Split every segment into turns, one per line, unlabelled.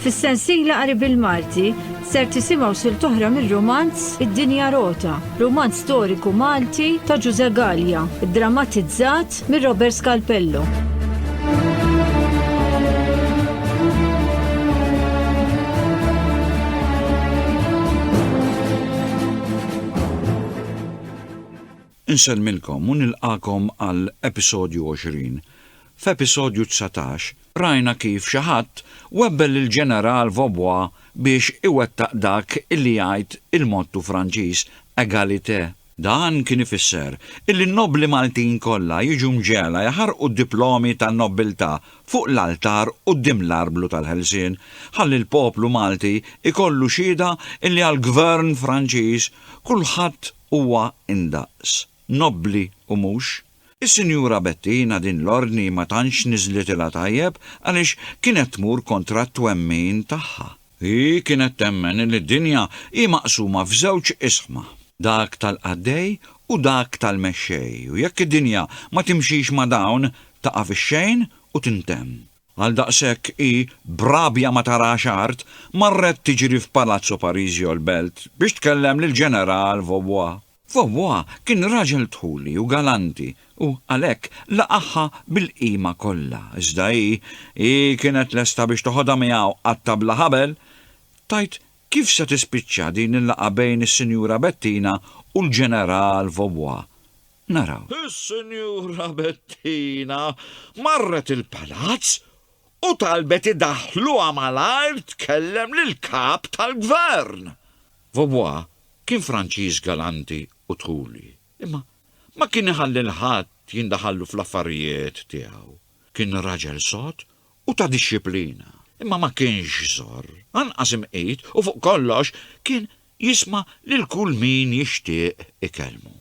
Fis-sensiela qari bil-Malti ser tisimgħu sil toħra mir-romanz Id-Dinja Rota, romanz storiku Malti ta' Ġuże Gallia, drammatizzat mir Robert Scalpello.
Insellmilkom u nilqagħkom għal episodju 20. F'episodju 19, rajna kif xi ħadd webbel lill-Ġeneral Vaubois biex iwettaq dak li jgħid il-mottu Franċiż Égalité. Dan kien ifisser illi n-nobbli Maltin kollha jiġu mġegħla jħarrqu d-diplomi tan-nobbiltà fuq l-altar quddiem l-Arblu tal-Ħelsien ħalli l-poplu Malti jkollu xhieda illi għall-Gvern Franċiż kulħadd huwa indaqs, nobbli u mhux. Is-Sinjura Bettina din l-ordni ma tantx niżlitilha tajjeb għaliex kienet tmur kontra t-twemmin tagħha. Hi kienet temmen li d-dinja hi maqsuma f'żewġ isħma, dak tal-qaddej u dak tal-mexxej u jekk id-dinja ma timxix ma' dawn taqa' fix-xejn u tintemm. Għaldaqshekk hi, b'rabja ma tarax art, marret tiġri f'Palazzo Parisio l-Belt biex tkellem lill-Ġeneral Vaubois. Vaubois kien raġel dħuli u galanti u, għalhekk, laqagħha bil-qima kollha, iżda hi, hi kienet lesta biex toħodha miegħu għat-tabla ħabel tgħid kif se tispiċċa din il-laqgħa bejn is-Sinjura Bettina u l-Ġeneral Vaubois. naraw. Is-Sinjura Bettina marret il-Palazz u talbet idaħħluha malajr tkellem lill-Kap tal-Gvern. Vaubois kien Franċiż galanti u dħuli, imma ma kien iħalli 'l ħadd jindaħallu fl-affarijiet tiegħu. Kien raġel sod u ta' dixxiplina, imma ma kienx żorr, anqas imqit u fuq kollox kien Jisma' lil kull min jixtieq ikellmu.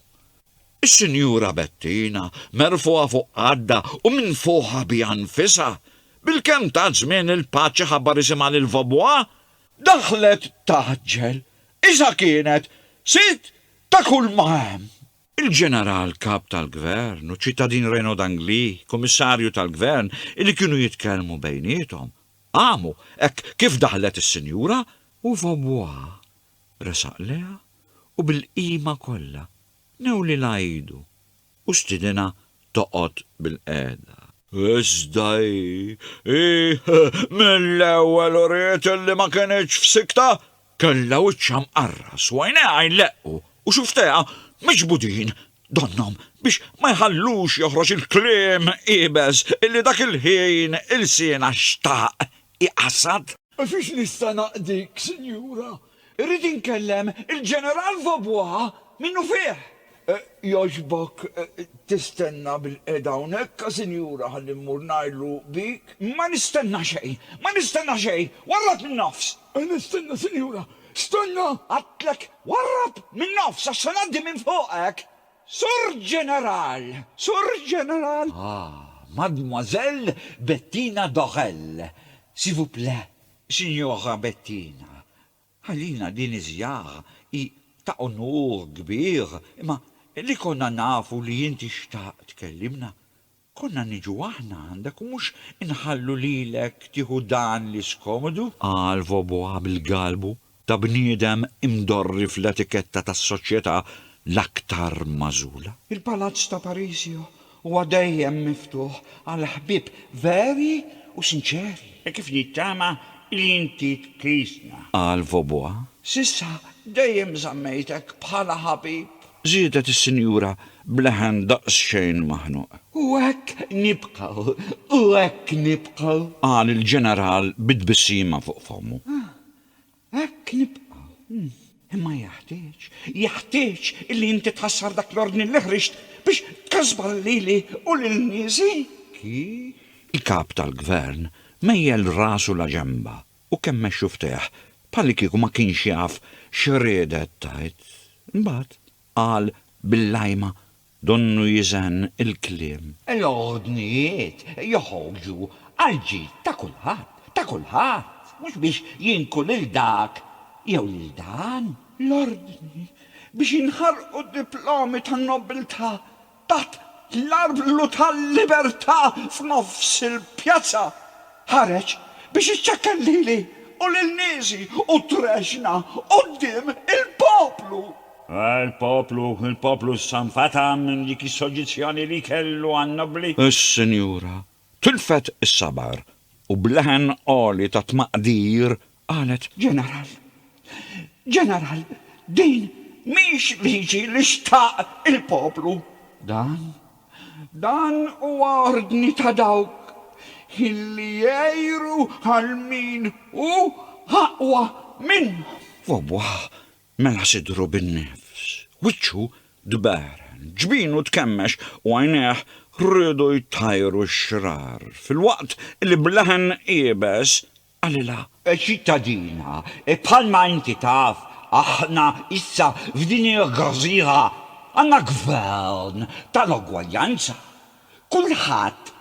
Is-Sinjura Bettina, merfugħa fuq qaddha u minfuħa biha nfisha, bil-kemm tat żmien lil Patch iħabbar isimha lil Vaubois, daħlet tgħaġġel, iżda kienet sid ta' kulma hemm. Il-Ġeneral Kap tal-Gvern u ċ-Ċittadin Reno Dangli, Kummissarju tal-Gvern, li kienu jitkellmu bejniethom, qamu hekk kif daħlet is-Sinjura U Vaubois resaq lejha u bil-qima kollha newlilha idu u stiedinha toqgħod bilqiegħda. Iżda hi, hi mill-ewwel uriet li ma kinitx f'siktha, kellha wiċċha mqarras u għajnejha jleqqu u xufftejha miġbudin donnhom biex ma jħallux joħroġ il-kliem iebes li dak il-ħin ilsienha xtaq hi Assad? U fiex nista'
naqdik, Sinjura? Irrid inkellem il-Ġeneral Vaubois minnufih! Jogħġbok tistenna bilqiegħda hawnhekk, Sinjura, ħalli mmur ngħidlu bik. Ma nistenna xejn! Ma nistenna xejn! Warrab min-nofs! Nistenna, Sinjura! Stenna! Għedtlek, warrab min-nofs għax se ngħaddi minn fuqek! Sur Ġeneral! Sur Ġeneral! Ah, Mademoiselle Bettina Dorel, s'il vous plait, Sinjora Bettina, għalina din iż-żjara hi ta' unur kbir, imma li konna nafu li inti xtaqt tkellimna, Konna niġu aħna għandek u mhux inħallu lilek tieħu dan li skomodu! Qal Vaubois
bil-galbu ta' bniedem imdorri fl-etiketta tas-soċjetà l-aktar magħżula. Il-Palazz ta'
Parisio huwa dejjem miftuħ għal ħbieb veri u sinċeri. Hekk kif nittama li inti tqisna. Qal Vaubois.
S'issa
dejjem żammejtek bħala ħabib. żiedet is-Sinjura
b'leħen daqsxejn maħnuq. U hekk
nibqgħu, u hekk nibqgħu! qal il-Ġeneral
bi tbissima fuq fommu. Hekk
nibqgħu. Imma jeħtieġ, jeħtieġ illi inti tħassar dak l-ordni li ħriġt biex tkasbar lili u lil niesi! Kif?
Il-Kap tal-Gvern mejjel rasu laġenba. U kemm mexxu fteh, bħallikieku ma kienx jaf x'riedet tgħid. Imbagħad qal bil-lajma donnu jiżenn il-kliem. L-ordnijiet
joħorġu għall-ġid ta' kulħadd, ta' kulħadd, mhux biex jinqu lil dak jew lil dan. L-ordni biex jinħarqu d-diplomi tan-nobbiltà Taħt l-arblu tal-Libertà f'nofs il-pjazza, ħareġ biex iċċekkel lili u lil niesi u trexxna quddiem il-poplu. Ah, il-poplu,
il-poplu issa nfeta' minn dik is-soġġizzjoni li kellu għan-nobbli. Is-Sinjura
Tilfet is-sabar u b'leħen għoli ta' tmaqdir qalet. Ġeneral,
Ġeneral, din mhix liġi li xtaq il-poplu. Dan, dan huwa ordni ta' dawk illi jgħiru għal min hu aqwa minnhom. Wawwa!
Mela sidru bin-nifs, wiċċu tberen, ġbinu tkemmex u għajnejh riedu jtajru x-xrar, filwaqt li b'leħen iebes qalilha, Ċittadina,
bħalma inti taf, aħna issa f'din il-gżira għandna gvern tal-ugwaljanza. Kulħadd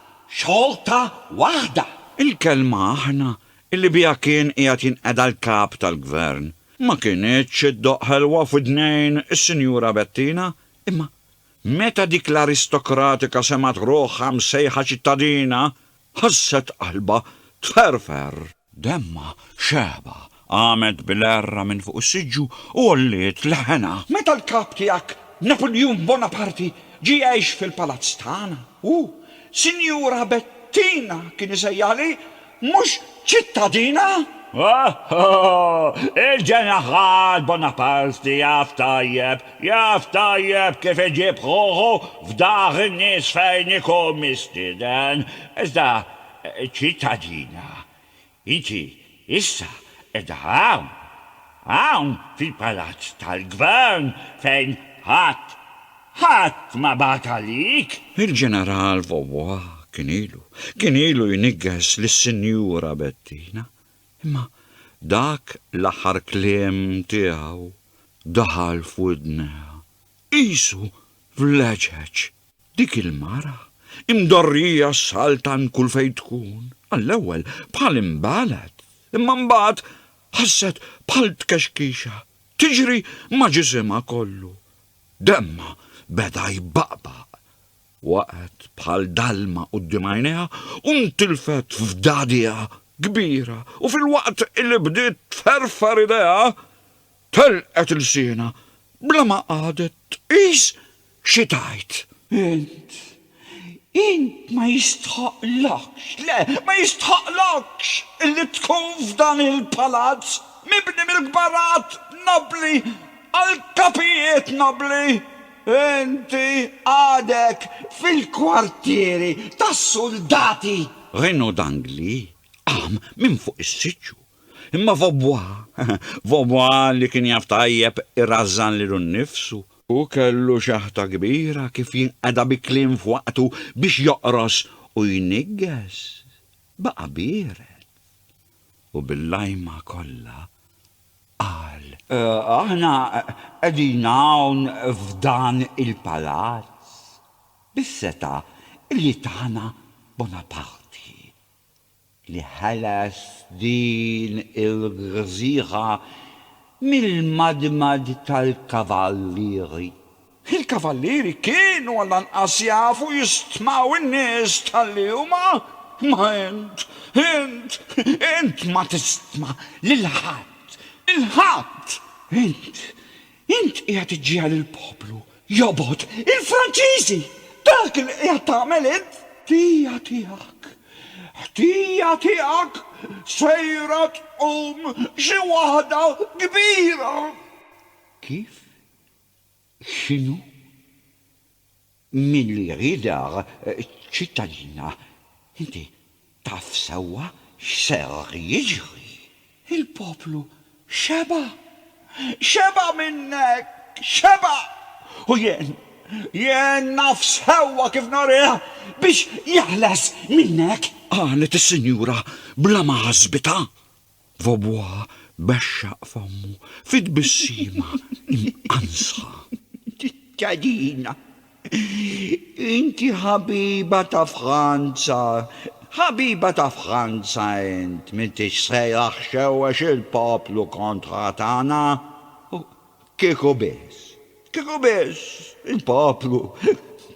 xorta waħda. Il-kelma
aħna li biha kien qiegħed jinqeda l-kap tal-gvern Ma kinitx iddoqq ħelwa f'widnejn is-Sinjura Bettina, imma meta dik l-aristokratika semgħet ruħha msejħa ċittadina, ħasset qalbha tferfer. Demmha xeba, qamet bil-għerra minn fuq is-siġġu u għolliet leħenha. Meta l-kap tiegħek,
Napuljun Bonaparti, ġie jgħix fil-palazz tagħna, hu, Sinjura Bettina, kien isejjaħli Mhux ċittadina? Ohh!
Il-ġeneral Bonaparti jaf tajjeb, jaf tajjeb kif iġib ħuħu f'dar in-nies fejn ikun mistieden. Iżda, ċittadina, inti issa qiegħda hawn, hawn fil-palazz tal-gvern fejn ħadd Ħadd ma bagħat għalik! Il-Ġeneral
Vaubois kien ilu, kien ilu jniggeż lis-Sinjura Bettina, imma dak l-aħħar kliem tiegħu daħal f'widnejha qisu f'leġeġ. Dik il-mara, imdorrija ssaltan kull fejn tkun, għall-ewwel bħal inbagħlet, imma mbagħad ħasset bħal tkexkixa tiġri ma' ġisimha kollu. Demmha beda jbaqbaq. Waqgħet bħal dalma quddiem għajnejha u ntilfet f'dagħdiha kbira u filwaqt li bdiet tferfer idejha, telqet ilsienha bla ma qagħdet tqis xi tgħid. Int
Int ma jistħoqqlokx, le, ma jistħoqqlokx illi tkun f'dan il-palazz mibni mill-kbarat nobbli għall-kapijiet nobbli. Inti għadek fil-kwartieri tas-suldati. Renaud
d'Angli qam minn fuq is-siġġu. Imma Vaubois, Vaubois li kien jaf tajjeb irażżan lilu nnifsu, Hu kellu xaħta kbira kif jinqeda bi kliem f'waqtu biex joqros u jniggeż. Baqa' biered. U bil-lajma kollha qal. Aħna
qegħdin hawn f'dan il-palazz bis-setgħa li tana Bonaparti. li ħeles din il-gżira mill-madmad tal-kavallieri.
Il-kavallieri kienu għall-anqas jafu jistmaw in-nies talli huma, imma int, int, int ma tistma' lil ħadd, lil ħadd! Int Int qiegħed iġġiegħel il-poplu jobgħod il-Franċiżi! Dak li qiegħed tagħmel int! Ħtija tiegħek! Ħtija tiegħek! Sejra tqum xi waħda kbira!
Kif? X'inhu? Min li jridha ċ-ċittadina, inti taf sewwa x'ser jiġri. Il-poplu
xeba'. Xeba' minnek! Xeba'! U jien, jien naf sewwa kif nurih biex jeħles minnek! Qalet is-sinjura
bla ma ħasbitha. Vobwa bexxaq fommu fi tbissima imqansħa.
Ċittadina, inti ħabiba ta' Franza, ħabiba ta' Franza int, m'intix sejra xxewwex il-poplu kontra tagħna. Kieku biss, kieku biss il-poplu,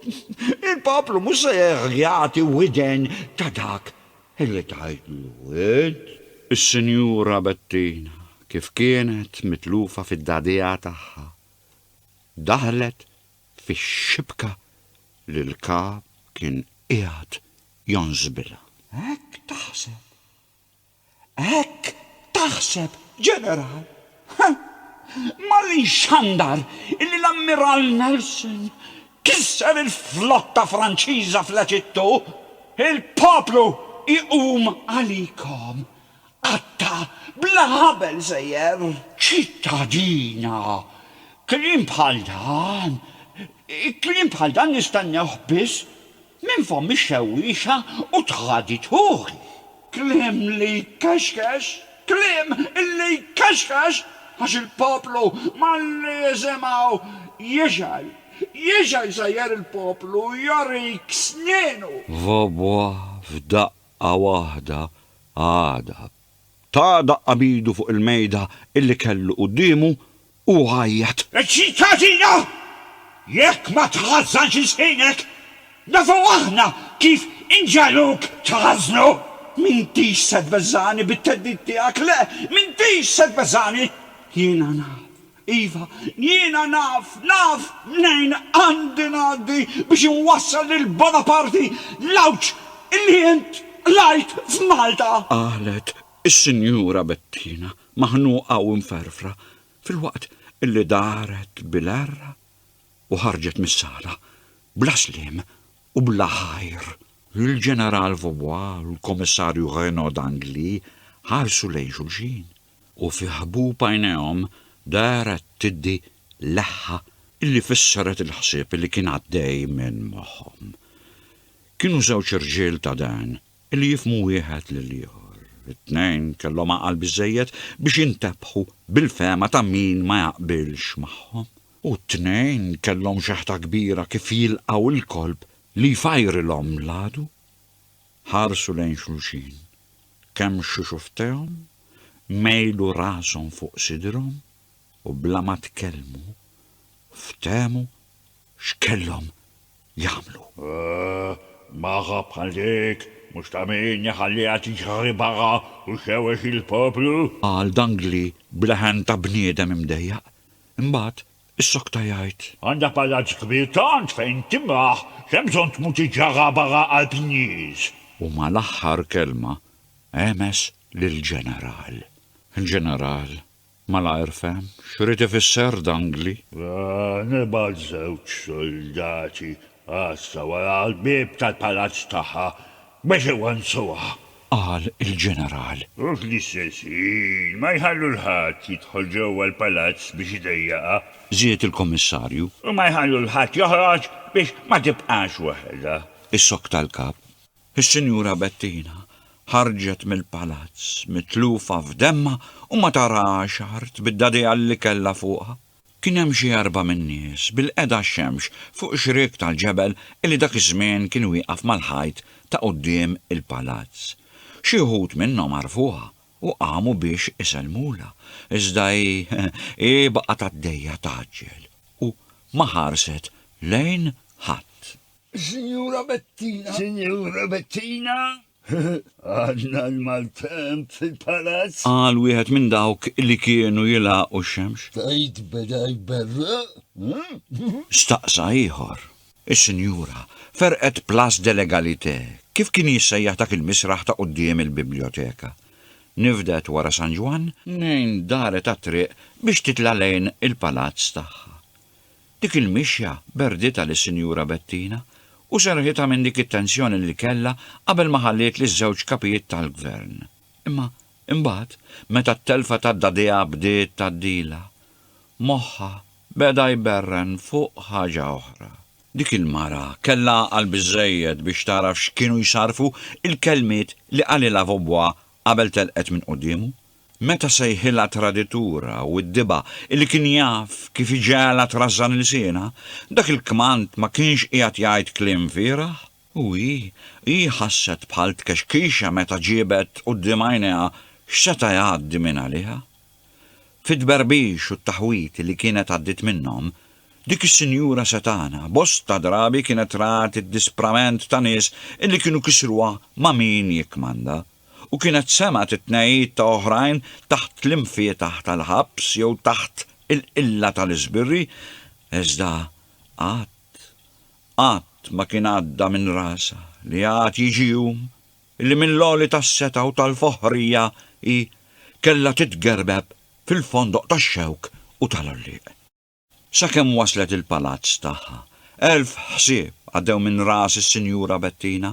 il-poplu mhux se jerġa' jagħti widen ta' dak Irrid ngħidlu l-wied.
Is-Sinjura Bettina, kif kienet mitlufa fid-dagħdigħa tagħha, daħlet fix-xibka li l-Kap kien qiegħed jonżbilha. Hekk
taħseb! Hekk taħseb, Ġeneral! Mal inxandar illi l-Ammiral Nelson kisser il-flotta Franċiża fl-Eġittu, il-poplu jqum għalikom. Qatta' bla ħabel sejjer. Ċittadina, kliem bħal dan, kliem bħal dan nistennewh biss Minn fomm ix-xewwiexa u tħadi dħul. Kliem li jkexkex, kliem li jkexkex, għax il-poplu malli jisimgħu jixgħel. Jixgħel sejjer il-poplu jorik snienu. Vobwa
f'daqqa waħda għada. Ta daqqa b'idu fuq il-mejda illi kellu quddiemu u għajjat. Iċ-ċittadina!
Jekk ma tħażżanx ilsienek, nafu aħna kif inġegħluk tħażżnu! M'intix se tbeżżagħni bit-theddid tiegħek, le, m'intix se tbeżżagħni! Jiena naf, iva, jiena naf, naf mnejn għandi ngħaddi biex inwassal lil Bonaparti l-għawġ li int qlajt f'Malta! Qalet
is-Sinjura Bettina. maħnuqa u mferfra, filwaqt illi daret bil-għerra u ħarġet mis-sala, bla sliem u bla ħajr. Il-Ġeneral Vaubois u l-Kummissarju Renaud d'Angly ħarsu lejn xulxin, u fi ħbub għajnejhom daret tiddi leħħa illi fissret il-ħsieb illi kien għaddej minn moħħhom. Kienu żewġ irġiel ta' dehn li jifhmu wieħed lill-ieħor. It-tnejn kellhom għaqal biżżejjed biex jintebħu bil-fehma ta' min ma jaqbilx magħhom. U t-tnejn kellhom xeħta kbira kif jilqgħu l-kolp li jfajrilhom l-għadu. Ħarsu lejn xulxin. Kemm xuxu ftehom, mejlu rashom fuq sidrhom u bla ma tkellmu ftehmu X'kellhom jagħmlu? Ahh,
magħha bħal dik, mhux ta' min jħalliha tiġri barra u xewwex il-poplu? Qal Dangli
b'leħen ta' bniedem imdejjaq. Imbagħad issokta jgħid. Għandha palazz
kbir tant fejn timraħ, x'hemm bżonn tmur tiġġarraq barra qalb in-nies? U mal-aħħar
kelma għemes lill-ġeneral. Il-ġeneral Malajr fehm x'ried ifisser dangli. Nibgħat
żewġ suldati għassa wara l-bieb tal-palazz tagħha biex iwannsuha. Qal
il-ġeneral. U fl-istess
ħin ma jħallu 'l ħadd jidħol ġewwa l-palazz biex idejjaqha. Żied il-kummissarju.
U ma jħallu 'l
ħadd joħroġ biex ma tibqax waħedha. Issokta l-kap.
Is-Sinjura Bettina ħarġet mill-palazz mitlufa f'demmha u ma tarax art bid-dagħdigħa li kellha fuqha. Kien hemm xi erba' min-nies bilqiegħda għax-xemx fuq xriek tal-ġebel li dak iż-żmien kien wieqaf mal-ħajt ta' quddiem il-palazz. Xi wħud minnhom għarfuha u qamu biex isellmulha, iżda hi hi baqgħet għaddejja tgħaġġel u ma ħarset lejn ħadd. Sinjura
Bettina! Sinjura
Bettina! Għadna l-maltemp fil-palazz! Qal wieħed minn
dawk li kienu jilgħaqu x-xemx. Tgħid beda
jberreq, eh?
Staqsa ieħor. Is-sinjura ferqet place de l'Egalité, kif kien jissejjaħ dak il-misraħ ta' quddiem il-bibljoteka. Nifdet wara San Ġwann, nejn daret għat-triq biex titla' lejn il-palazz tagħha. Dik il-mixja berditha lis-Sinjura Bettina u serrħitha minn dik it-tensjoni li kellha qabel ma ħalliet liż-żewġ kapijiet tal-gvern. Imma imbagħad, meta t-telfa ta' daddiha bdiet tgħaddilha, moħħha beda jberren fuq ħaġa oħra. Dik il-mara kellha għaqal biżżejjed biex tagħraf x'kienu jsarrfu l-kelmiet li qalilha vobbuha qabel telqet minn quddiemu, Meta sejħilha traditura u giddiba illi kien jaf kif iġegħelha trażżan ilsienha, dak il-kmand ma kienx qiegħed jgħid kliem fieragħ? U hi, hi ħasset bħal tkexkixa meta ġiebet quddiem għajnejha x'seta' jgħaddi minn għaliha. Fit-tberbix u t-taħwid li kienet għaddiet minnhom, dik is-sinjura setgħana bosta drabi kienet rat id-disprament ta' nies illi kienu kisruha ma' min jikkmanda. u kienet semgħet it-tnegħid ta' oħrajn taħt l-imfietaħ tal-ħabs jew taħt il-qilla tal-iżbirri, iżda qatt, qatt ma kien għadda minn rasha li għad jiġi jum illi mill-għoli tas-setgħa u tal-foħħrija hi kellha titgerbeb fil-fondoq tax-xewk u tal-għollieq. Sakemm waslet il-palazz tagħha. Elf ħsieb għaddew minn ras is-Sinjura Bettina,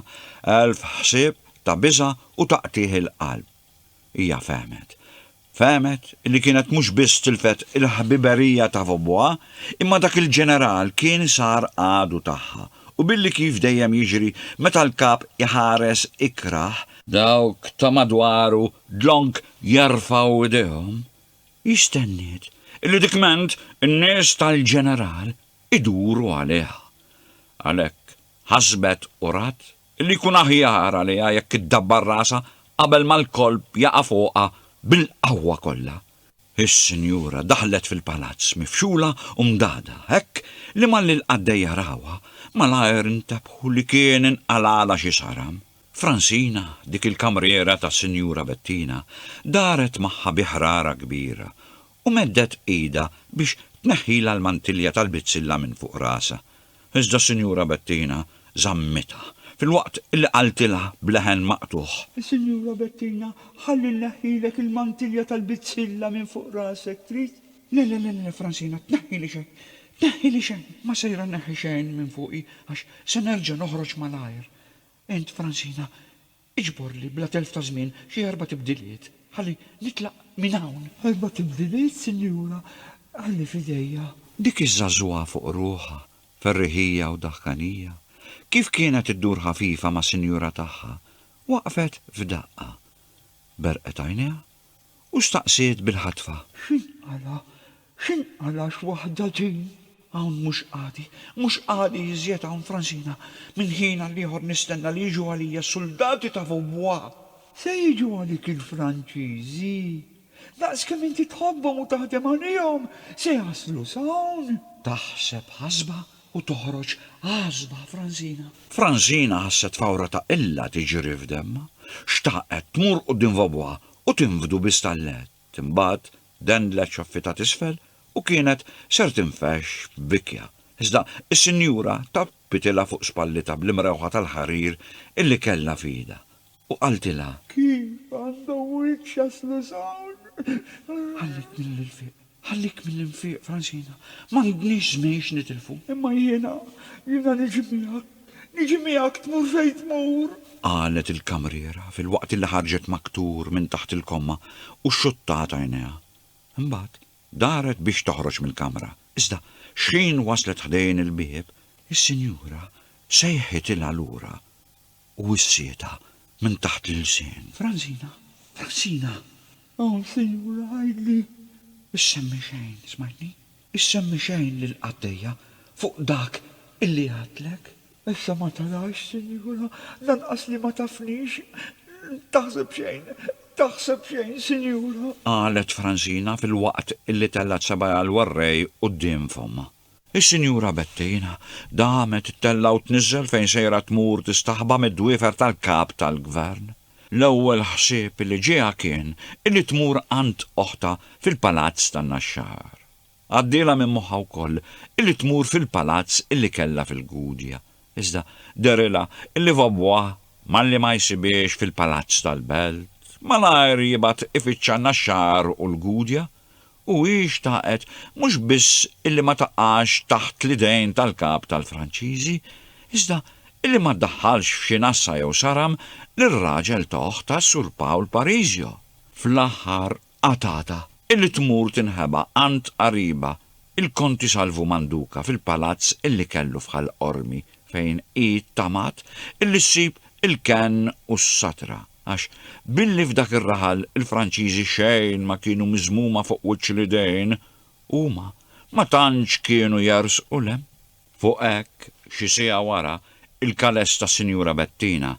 elf ħsieb ta' biża' u ta' qtigħ il-qalb. Hija fehmet. Fehmet li kienet mhux biss tilfet il-ħbiberija ta' ħboha, imma dak il-ġeneral kien sar għadu tagħha, u billi kif dejjem jiġri meta l-kap iħares ikrah, dawk ta' madwaru dlonk jerfgħu idejhom Hi stenniet illi dikment in-nies tal-ġeneral iduru għaliha. Għalhekk ħasbet u rat illi jkun aħjar għaliha jekk iddabbar rasha qabel ma l-kolp jaqa' fuqha bil-qawwa kollha. Is-sinjura daħlet fil-palazz mifxula u mdagħda hekk li malli l-qaddejja rawha, malajr intebħu li kien inqalagħlha xi saram. Fransina, dik il-kamriera ta' Sinjura Bettina, daret magħha bi ħrara kbira u meddet idha biex tneħħilha l-mantilja tal-bizzilla minn fuq rasha, iżda Sinjura Bettina żammitha, filwaqt li qaltilha b'leħen maqtugħ. Sinjura Bettina,
ħalli nneħħilek il-mantilja tal-bizzilla minn fuq rasek, trid? Le, le, le, le, Fransina, tneħħili xejn, tneħħili xejn, ma sejra nneħħi xejn minn fuqi għax se nerġa' noħroġ malajr. Int, Francina, iġborli bla telf ta' żmien xi erba' tibdiliet ħalli nitlaq minn hawn. Erba' tibdiliet, sinjura? Ħalli f'idejja. Dik iż-żagħżugħa
fuq ruħha, ferriħija u daħkanija, kif kienet iddur ħafifa mas-sinjura tagħha, waqfet f'daqqa. Berqet għajnejha u staqsiet bil-ħatfa. X'inqala', x'inqala'
x'waħda din! Hawn mhux
qagħdi, mhux qagħdi iżjed hawn Fransina, minn ħin għal ieħor nistenna li jiġu għalija suldati ta' Vaubois! Se jiġu
għalik il-Franċiżi! Daqs kemm inti tħobbhom u taħdem għalihom, se jaslu s'hawn! Taħseb
ħasba u toħroġ ħasba Fransina. Fransina ħasset fawra ta' qilla tiġri f'demmha. Xtaqet tmur quddiem Vaubois u tinfdu bi stallett, imbagħad dendlet xaffi ta' t'isfel u kienet ser tinfexx f'bikja, iżda s-sinjura tappitilha fuq spallitha bl-imrewħa tal-ħarir illi kellha f'idha u qaltilha. Kif
għandhom wiċċ jaslu s'hawn? Ħallitni 'l fiq.
Ħallik mill-infiq, Francina. M'għandniex żmien x'nitilfu. Imma jiena,
jiena niġi miegħek. Niġi miegħek tmur fejn tmur. Qalet
il-kamriera filwaqt li ħarġet maktur minn taħt il-komma u xxuttat għajnejha. Imbagħad daret biex toħroġ mill-kamra. Iżda xħin waslet ħdejn il-bieb, is-sinjura sejħitilha lura. u s-sieta minn taħt l-ilsien. Franzina, Franzina! O,
sinjura, għidli! Issemmi
xejn, smajtni? Issemmi xejn lill-qaddejja fuq dak illi għadtlek? Issa ma
tarax, sinjura, lanqas li ma tafnix! Taħseb xejn, taħseb xejn, sinjura! Qalet Franzina
filwaqt illi tellgħet sebgħajha l-warrej quddiem fommha. Is-Sinjura Bettina damet ittella' u tniżżel fejn sejra tmur tistaħba mid-dwiefer tal-Kap tal-Gvern. L-ewwel ħsieb li ġieha kien illi tmur għand oħtha fil-Palazz tan-Naxxar. Għaddielha minn moħħha wkoll illi tmur fil-palazz illi kellha fil-Gudja, iżda dehrilha illi Vaubois malli ma jsibhiex fil-Palazz tal-Belt, malajr jibgħat ifittxha n-Naxxar u l-Gudja. u hi xtaqet mhux biss illi ma taqax taħt l-idejn tal-kap tal-Franċiżi, iżda illi ma ddaħħalx f'xi nassa jew saram lir-raġel ta' oħtha Sur Pawl Parisio, fl-aħħar qatgħatha, illi tmur tinħeba għand qaribha Il-Konti Salvu Manduca fil-palazz illi kellu f'Ħal Qormi fejn hi ttamaat illi ssib il-kenn u s-satra għax billi f'dak ir-raħal il-Franċiżi xejn ma kienu miżmuma fuq wiċċ l-idejn huma ma tantx kienu jersqu 'l hemm. Fuq hekk, xi siegħa wara, il-kales tas-Sinjura Bettina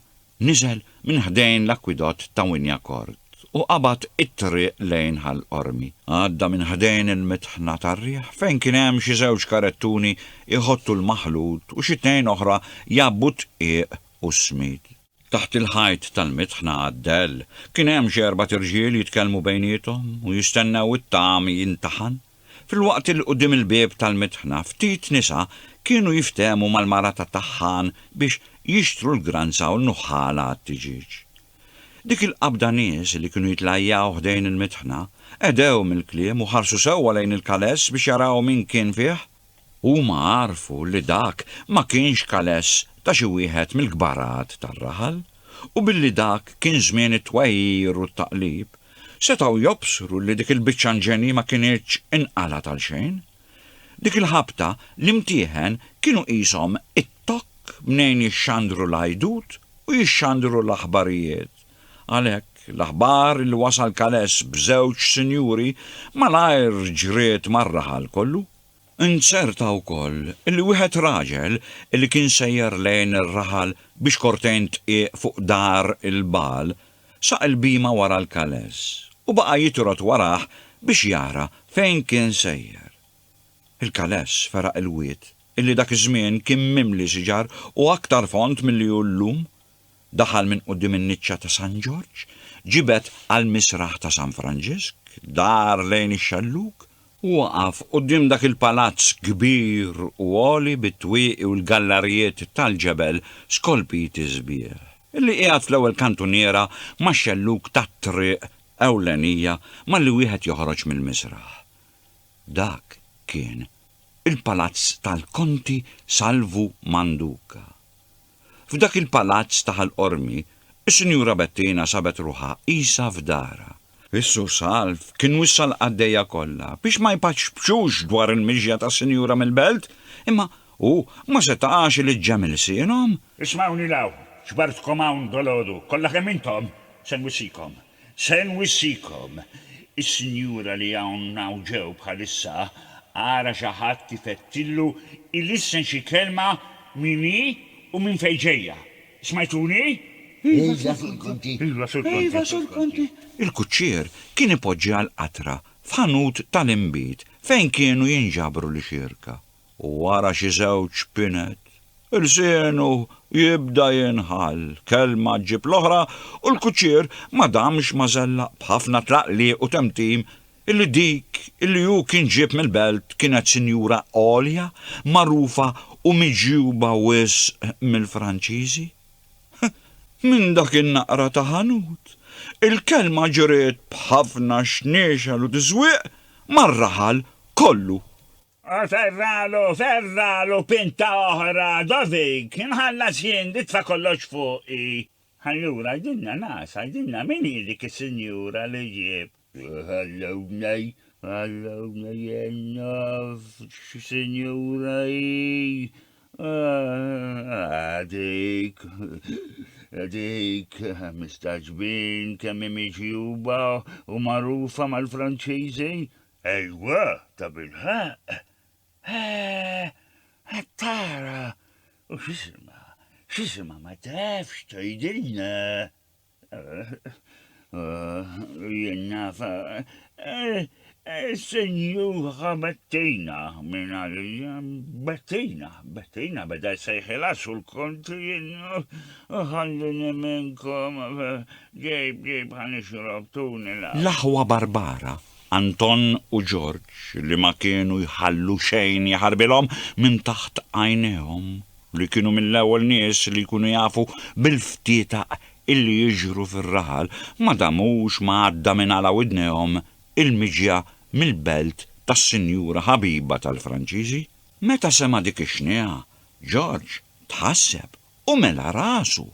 niżel minn ħdejn l-akwidott ta' Wynyacourt u qabad it-triq lejn Ħal Qormi. Għadda minn ħdejn il-mitħna tar-riħ fejn kien hemm xi żewġ karettuni jħottu l-maħlut u xi tnejn oħra jgħabbu d-dqiq u s-smid. Taħt il-ħajt tal-mitħna għad-dell kien hemm xi erbat irġiel jitkellmu bejniethom u jistennew it-tagħam jintaħan, filwaqt li quddiem il-bieb tal-mitħna ftit nisa kienu jiftehmu mal-mara tat-taħħan biex jixtru l-granza u l-nuħħala għat-tiġieġ. Dik il-qabda nies li kienu jitlajjaw ħdejn il-mitħna, qegħdew mill-kliem u ħarsu sewwa lejn il-kaless biex jaraw min kien fih. Huma għarfu li dak ma kienx kaless ta' xi wieħed mill-kbarat tar-raħal, u billi dak kien żmien it-twegħir u t-taqlib, setgħu jobsru li dik il-biċċa nġenji ma kinitx inqalgħet għalxejn. Dik il-ħabta l-imtieħen kienu qishom it-tokk mnejn jixxandru l-għajdut u jixxandru l-aħbarijiet. Għalhekk, l-aħbar li wasal Kales b'żewġ sinjuri malajr ġriet mar-raħal kollu. Inzerta wkoll li wieħed raġel li kien sejjer lejn ir-raħal biex kortejn tqiegħ fuq dar il-bagħal saq il-bhima wara l-Kales u baqa' jitrott warah biex jara fejn kien sejjer. Il-Kales feraq il-wied li dak iż-żmien kien mimli siġar u aktar fond milli hu llum. Daħal minn quddiem in-niċċa ta' San Ġorġ, ġibed għall-misraħ ta' San Franġisk, dar lejn ix-xellug, u waqaf quddiem dak il-palazz kbir u għoli bit-twieqi u l-gallarijiet tal-ġebel skolpiti sbieħ, li qiegħed fl-ewwel kantuniera max-xellug tat-triq ewlenija malli wieħed joħroġ mill-misraħ. Dak kien il-palazz tal-Konti Salvu Manduca. F'dak il-palazz ta' Ħal Qormi, is-Sinjura Bettina sabet ruħha qisha f'darha. Is-Sur Salv kien wissa l-qaddejja kollha biex ma jpaċpċux dwar il-mixja tas-Sinjura mill-belt, imma hu ma setax ileġġem ilsienhom. Ismgħuni 'l hawn,
ġbartkom hawn dal-għodu, kollha kemm intom, se nwissikom. Se nwissikom, is-sinjura li hawn hawn ġew bħalissa, ara xi ħadd ifettillu ilissen xi kelma min hi u minn fejn ġejja. Smajtuni? Iva,
Sur Conti. Iva, Sur Conti. Iva, Sur Conti. Il-kuċċier
kien ipoġġiha l-qatra f'ħanut tal-inbid fejn kienu jinġabru l-ixierka. u wara xi żewġ pinet, lsienu jibda jinħall, kelma ġġib l-oħra u l-kuċċier ma damx ma żellaq b'ħafna tlaqliq u temtim illi dik illi hu kien ġieb mill-belt kienet sinjura għolja, magħrufa u miġjuba wisq mill-Franċiżi. Minn dak in-naqra ta' ħanut, il-kelma ġriet b'ħafna xniexel u tiżwieq mar-raħal kollu. O serralu,
serralu, pinta oħra, Dodig, inħallas jien, nitfa' kollox fuqi. Allura għidilna naqas, għidilna min hi dik is-sinjura li ġġib. Ħallewna, ħallewna jien naf x'sinjura hi. Ah, dik, dik, mistagħġbin kemm hi miġjuba u magħrufa mal-Franċiżi. Ejwa, tabilħaqq! Eeh! Qed tara! U x'isimha? X'isimha ma tafx tgħidilna? Ooh, jien naf. Is-Sinjura Bettina minn għalija. Bettina, Bettina beda jsejħilha sur konti jien u ħallini minnkom ġejb ġejb ħa nixrob tuni l-. L-aħwa Barbara
Anton u George, li ma kienu jħallu xejn jaħarbilhom minn taħt għajnejhom, li kienu mill-ewwel nies li jkunu jafu bil-ftietaq illi jiġru fir-raħal, ma damux ma għadda minn għala widnejhom il-miġja mill-belt tas-sinjura ħabiba tal-Franċiżi. Meta sema' dik ix-xniegħa, George tħasseb u mela rasu,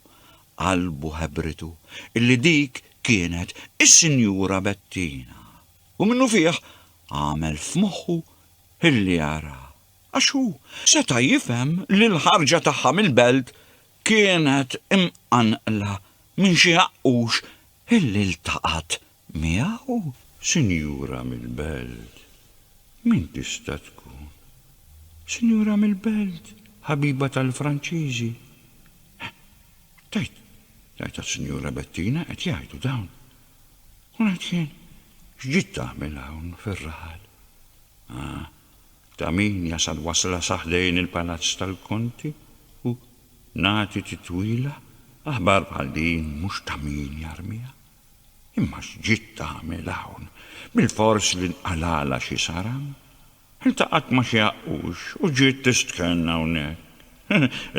qalbu ħebritu illi dik kienet is-Sinjura Bettina, u minnufih għamel f'moħħu illi jaraha, għax hu seta' jifhem li l-ħarġa tagħha mill-belt kienet imqanqla minn xi għaqqux illi ltaqat Miegħu sinjura mill-belt? Min tista' tkun? Sinjura mill-belt, ħabiba tal-Franċiżi? Tgħid, tgħid għas-Sinjura Bettina qed jgħidu dawn. U ngħid jien, x'ġiet tagħmel hawn fir-raħal? Ah, ta' min jasal wasla sa ħdejn il-Palazz tal-Konti u nagħti titwila,
aħbar bħal din mhux ta' min jarmiha. Imma x'ġiet tagħmel hawn? Bilfors li nqalgħalha xi saram? Iltaqgħet ma' xi għaqqux u ġiet tistkenna hawnhekk.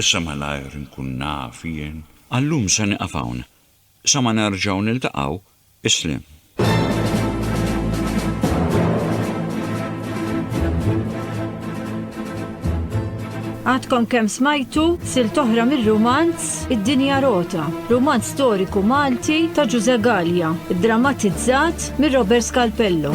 Issa malajr inkun naf jien. Għal-lum se nieqaf
hawn. Sa ma nerġgħu niltaqgħu, isliem.
Għadkom kemm smajtu silta oħra mir-rumanz Id-Dinja Rota, rumanz storiku Malti ta' Ġużè Galea, iddramatizzat minn Robert Scalpello.